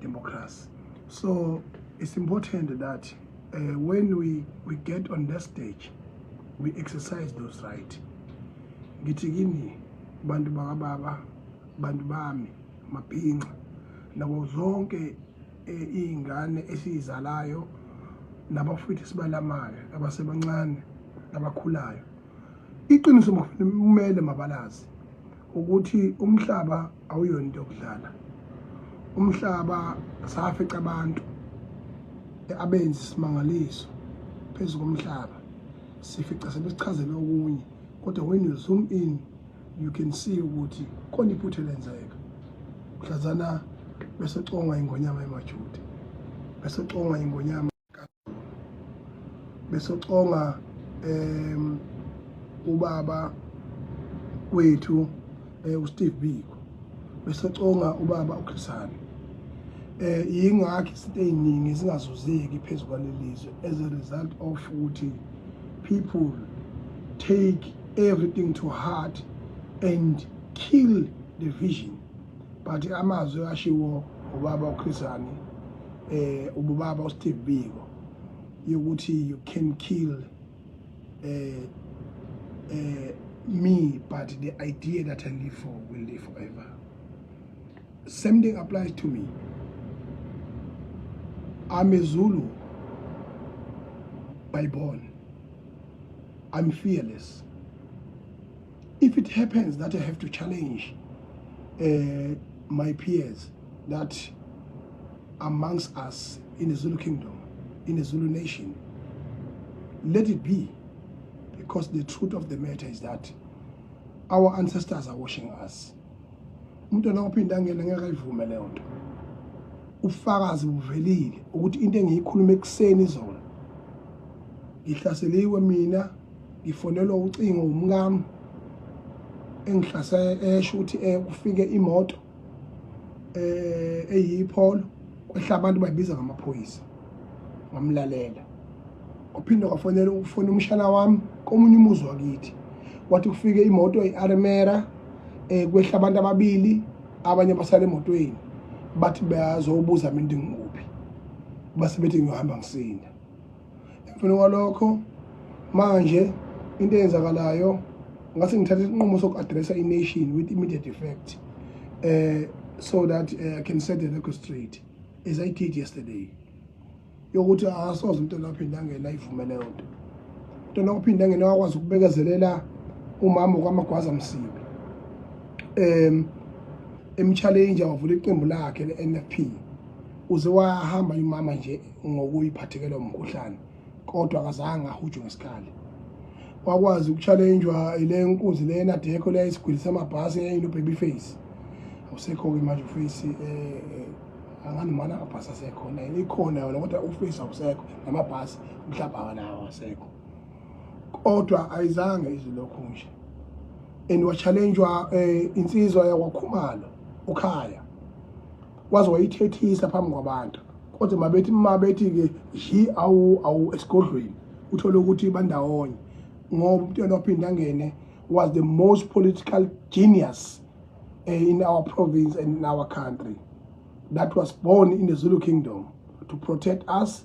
democracy so it's important that uh, when we, we get on that stage we exercise those right ngithi kini bantu bakababa bantu bami mabhinqa nabo zonke eh, iy'ngane esiyizalayo nabafowethu esibalamayo abasebancane nabakhulayo iqiniso makumele mabalazi ukuthi umhlaba awuyona into yokudlala umhlaba safica abantu abenzi simangaliso phezu komhlaba sifica sebesichazele okunye kodwa when you zoom in you can see ukuthi khona iphutha elenzeka mhlazana bese congwa ingonyama emajude bese congwa ingonyama besoconga um ubaba kwethu eh, uSteve Biko besoconga ubaba uKhrisani eh yingakho izinto eziningi zingazuzeki phezulu kwalelizwe as a result of ukuthi people take everything to heart and kill the vision but amazwi ashiwo ubaba uChrisani eh ubaba uSteve Biko yokuthi you can kill eh eh me but the idea that I live for will live forever same thing applies to me I'm a Zulu by born I'm fearless if it happens that i have to challenge uh, my peers that amongst us in the zulu kingdom in the zulu nation let it be because the truth of the matter is that our ancestors are washing us umuntu angaphinde angene ngeke ayivume leyo nto ufakazi buvelile ukuthi into engiyikhuluma ekuseni izolo ngihlaseliwe mina ngifonelwa ucingo umkami engihlase esho ukuthi eh kufike imoto eh eyipholo kwehla abantu bayibiza ngamaphoyisa ngamlalela kwaphinde kwafonela ukufona umshana wami komunye umuzi wakithi wathi kufike imoto i-armera eh kwehla abantu ababili abanye basale emotweni bathi bayazobuza mina ngikuphi base bethi ngiyohamba ngisinda emveni kwalokho manje into eyenzakalayo ngase ngithatha isinqumo soku-addressa i-nation with immediate effect uh, so that uh, i can set the record straight as i did yesterday yokuthi asoze umntu laphinda angena ivumele yonto into nokuphinda angena wakwazi ukubekezelela umama kwamagwaza msibi um emchallenge wavula iqembu lakhe le-nfp uze wahamba umama nje ngokuyiphathekelwa umkhuhlane kodwa akazange ahujwe ngesikhali wakwazi ukutshalenjwa ile nkunzi le enadekho le isigwili samabhasi eyayilo baby face awusekho-ke manje uface um eh, eh, anganimani amabhasi asekhona ikhona yona kodwa uface awusekho namabhasi umhlaba awanawo asekho kodwa ayizange izwi lokhu nje and watshalenjwa um eh, insizwa yakwakhumalo ukhaya waze wayithethisa phambi kwabantu kodwa mabethi mabethi-ke yi awu awu esigodlweni uthole ukuthi bandawonye ngoba umuntu yena waphinde angene was the most political genius eh, in our province and in our country that was born in the zulu kingdom to protect us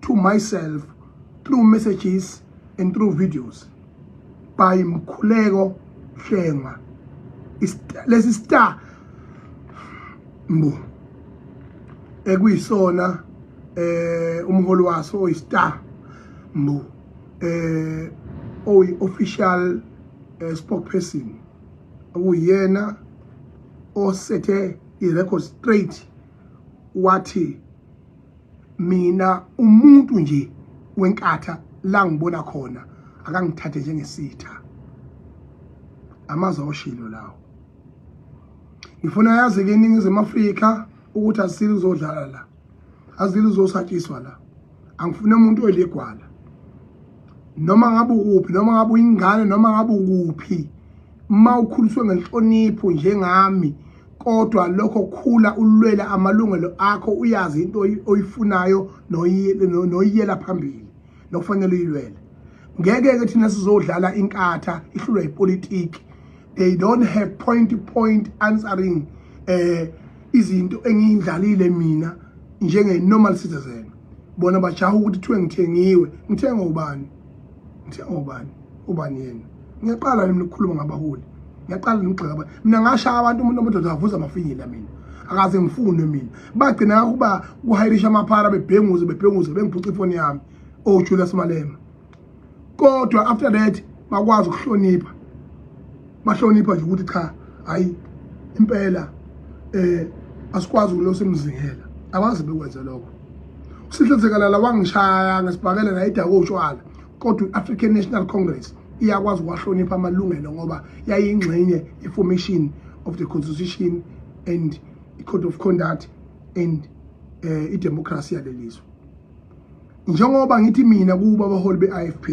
to myself through messages and through videos by Mkhuleko Shengwa. Lesi star mbu ekuyisona eh umholi waso oyistar mbu eh oyi official eh, spokesperson okuyena osethe i-record straight wathi mina umuntu nje wenkatha la ngibona khona akangithathe njengesitha amazwi oshilo lawo ngifuna yazi ke iningizimu afrika ukuthi asile uzodlala la azile uzosatshiswa la angifune umuntu oyiligwala noma ngabe ukuphi noma ngabe uyingane noma ngabe ukuphi uma ukhuliswe ngenhlonipho njengami kodwa lokho khula ulwele amalungelo akho uyazi into oyifunayo noyiyela phambili nokufanele uyilwele ngeke-ke thina sizodlala inkatha ihlulwa yipolitiki they don't have point to point answering eh izinto engiyindlalile mina njenge normal citizen bona bajaha ukuthi kuthiwe ngithengiwe ngithengwa ubani ngithenga ubani ubani yena ngiyaqala nami ukukhuluma ngabaholi ngiyaqala nokugxeka abantu mina ngashaya abantu umuntu omudoda avuza amafinyila mina akaze ngifune mina bagcina ukuba kuhayirisha amaphara bebhenguze bebhenguze bengiphuca ifoni yami ojulius oh, malema kodwa after that bakwazi ukuhlonipha bahlonipha nje ukuthi cha hayi impela eh asikwazi ukulosa imzingela abazi bekwenze lokho usihle zekalala wangishaya ngesibhakele la idako utshwala kodwa i-african national congress iyakwazi ukuwahlonipha amalungelo ngoba yayingxenye i-formation of the constitution and i-code of conduct and um eh, idemocracy yalelizwe njengoba ngithi mina kuba abaholi be-ifp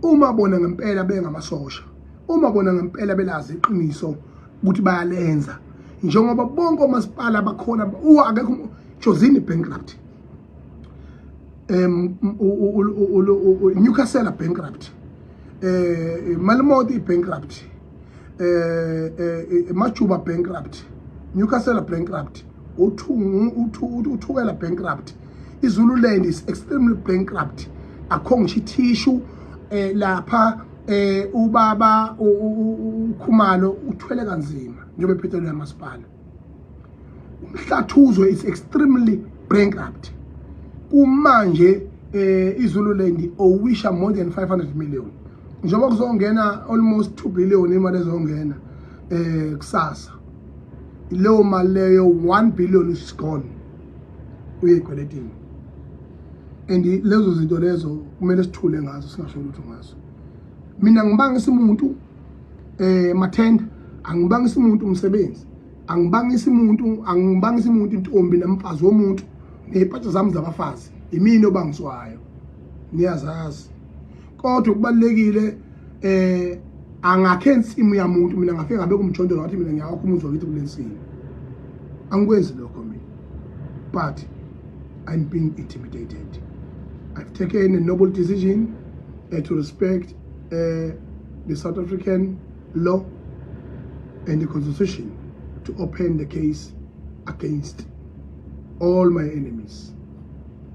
uma bona ngempela bengamasosha uma bona ngempela belazi iqiniso ukuthi bayalenza njengoba bonke omasipala bakhona uwa akekho jozini bankrupt um newcastle bankrupt um malimoti i-bankrupt eh, eh, eh Majuba bankrupt Newcastle bankrupt uthukela bankrupt izululand is extremely bankrupt akho ngisho ithishu eh lapha eh ubaba ukhumalo uthwele kanzima njengoba ephethelwe yamasipala umhlathuzo is extremely bankrupt kumanje eh iZululand owisha more than 500 million njengoba kuzongena almost 2 billion imali ezongena eh kusasa leyo mali leyo 1 billion is gone uyekweletini and lezo zinto lezo kumele sithule ngazo singasho lutho ngazo mina ngibanga isimuntu eh mathenda angibangisi umuntu umsebenzi angibangisi umuntu angibangisi umuntu intombi nemfazi womuntu nezipatsha zami zabafazi imini obangiswayo niyazazi kodwa kubalekile eh angakhe insimu yamuntu mina ngafike ngabe kumjondolo wathi mina ngiyawakho umuzi wakithi kulensimu angikwenzi lokho mina but i'm being intimidated i've taken a noble decision uh, to respect uh, the South African law and the constitution to open the case against all my enemies.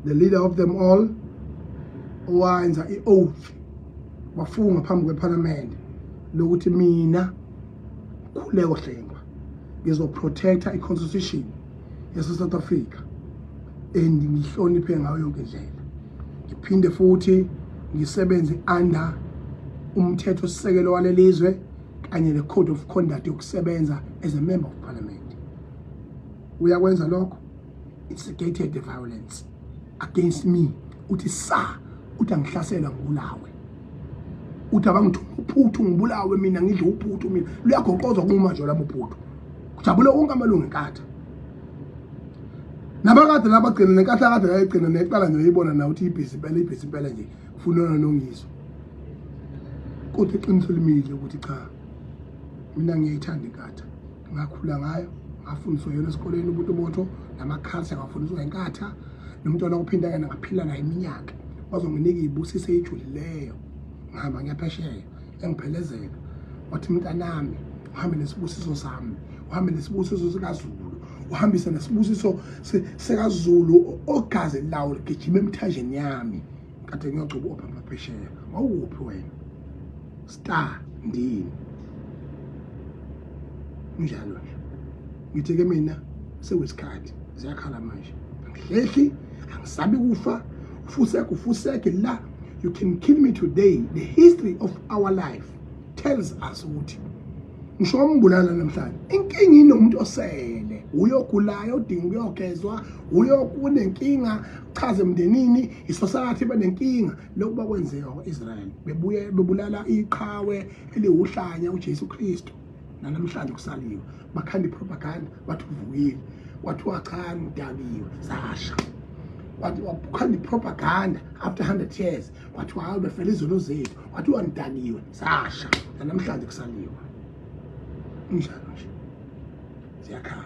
The leader of them all, owenza i-oath wafunga phambi kwephalamende lokuthi mina khuleko hlengwa ngizoprotecta i-constitution yase South Africa and ngihloniphe ngayo yonke indlela ngiphinde futhi ngisebenze under umthetho sisekelo walelizwe kanye ne code of conduct yokusebenza as a member of parliament uyakwenza lokho instigated the violence against me uthi sa uthi angihlasela ngulawe uthi abangithume uphuthu ngibulawe mina ngidle uphuthu mina luyagoqozwa kuma nje lami uphuthu kujabule wonke amalungu enkatha nabakade laba gcina nenkatha kade yayigcina neqala nje uyibona na ukuthi ibhizi impela ibhizi impela nje ufunona nongiso kodwa iqiniso limile ukuthi cha mina ngiyayithanda inkatha ngakhula ngayo ngafundiswa yona esikoleni umuntu botho namakhasi angafundiswa ngenkatha nomntwana ophinda yena ngaphila naye iminyaka wazonginika ibusiso eyijulileyo ngihamba ngiyaphesheya engiphelezela wathi mntanami uhambe nesibusiso sami uhambe nesibusiso sikazulu uhambise nesibusiso sikazulu ogazi lawo ligijima emthanjeni yami kade ngiyogcoba ophamba phesheya wawuphi wena star ndini njalo nje ngithi ke mina sekuyisikhathi ziyakhala manje angihlehli angisabi kufa ufuseke ufuseke la you can kill me today the history of our life tells us ukuthi ngisho wambulala namhlanje inkinga inomuntu osele uyogulayo udinga ukuyogezwa uyokunenkinga chaze emndenini isosakathi benenkinga lokuba kwenzeka kwa-israyeli bebulala iqhawe eliwuhlanya ujesu kristu nanamhlanje kusaliwe bakhanda ipropaganda wathi uvukile wathi wachani udakiwe sasha wathi wakhanda ipropaganda after 100 years wathi hayi befela izulu zethu wathi wanidakiwe sasha nanamhlanje kusaliwe injalo nje siyakhala